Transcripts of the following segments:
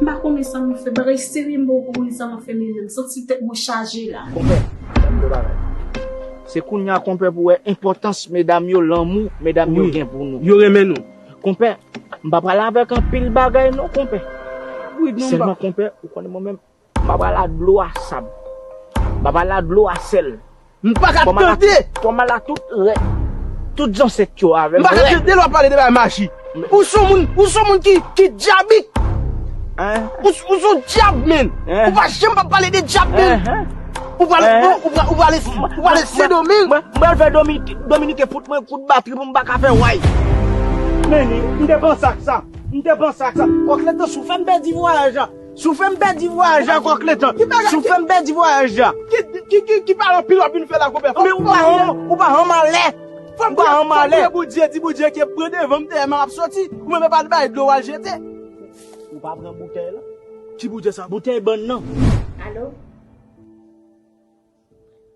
M pa konnen sa m fè. Bagay serye m pa ko konnen sa m ap fè menm nan. M santi tèt mwen chaje la. Konpè, tann de bagay. Se kounya konpè pou wè enpòtans medam yo, lanmou medam yo gen pou nou. Yo renmen nou. Konpè, m pa pale avèk anpil bagay non konpè. Sèlman konpè, ou konnen mwen menm, M'a pral a dlo a sab. M'a pral a dlo a sèl. M pa ka tande! Fò m al a tout rèt. Tout zansèt yo avè m rèd. M pa ka tande lè w'ap pale de bagay maji. Ou s'on moun, ou s'on moun ki dyabik. Ou s'on dyab menn. Ou pa janm pa pale de dyab menn. Ou pral, ou pral, ou pral, ou pral al Sendomeng. M pral fè Dominiken fout mwen kout batri pou m pa ka fè way. Menni, m te panse ak sa. M te panse ak sa. Kòk lè te sou fè m pèdi vwayaj la. Si w fè m pèdi vwayaj la kòk letan. Ki bagay ki. Si w fè m pèdi vwayaj la. Ki ki ki paran pil w ap vin fè la konpè. Konbyen ou pa ran ou pa ran m a lè. Ou pa ran m a lè. Fò m priye Bondye di Bondye ke pran devan m dèyè m a ap soti. Ou menm e pa al bay dlo w al jete. Ou pa pran boutèy lan. Ki boutèy sa? Boutèy bann nan. Alo?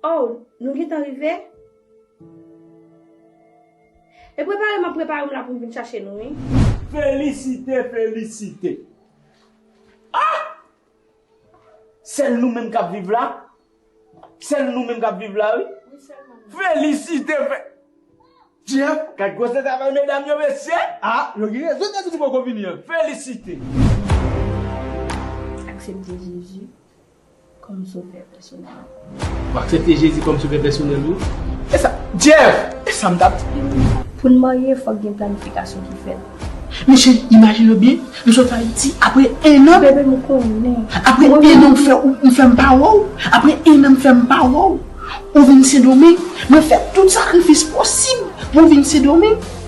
Oh nou gentan rive? E prepare map prepare m la poum vin chache nou wi. Felisite felisite ah sèl nou menm kap viv la sèl nou menm kap viv la wi felisite fe Jean gad gwosè travay medam yo mesye ah yo gen rezon yo ta di nou poko vini an felisite. Aksepte Jezi. kòm sovè pèsonèl ou. Ou aksepte Jezi kòm sovè pèsonèl ou? E sa, Jeff! E sa m t ap di w wi! Pou n marye, fòk gen planifikasyon ki fèt. Men cheri, imajine w byen, m sot Ayiti, apre ennan. Bebe, m konnen. Apre ennan ou fè ou fè m pa wè w. Apre ennan m fè m pa wè w. Ou vin Sendomeng. Mwen fè tout sakrifis posib pou w vin Sendomeng.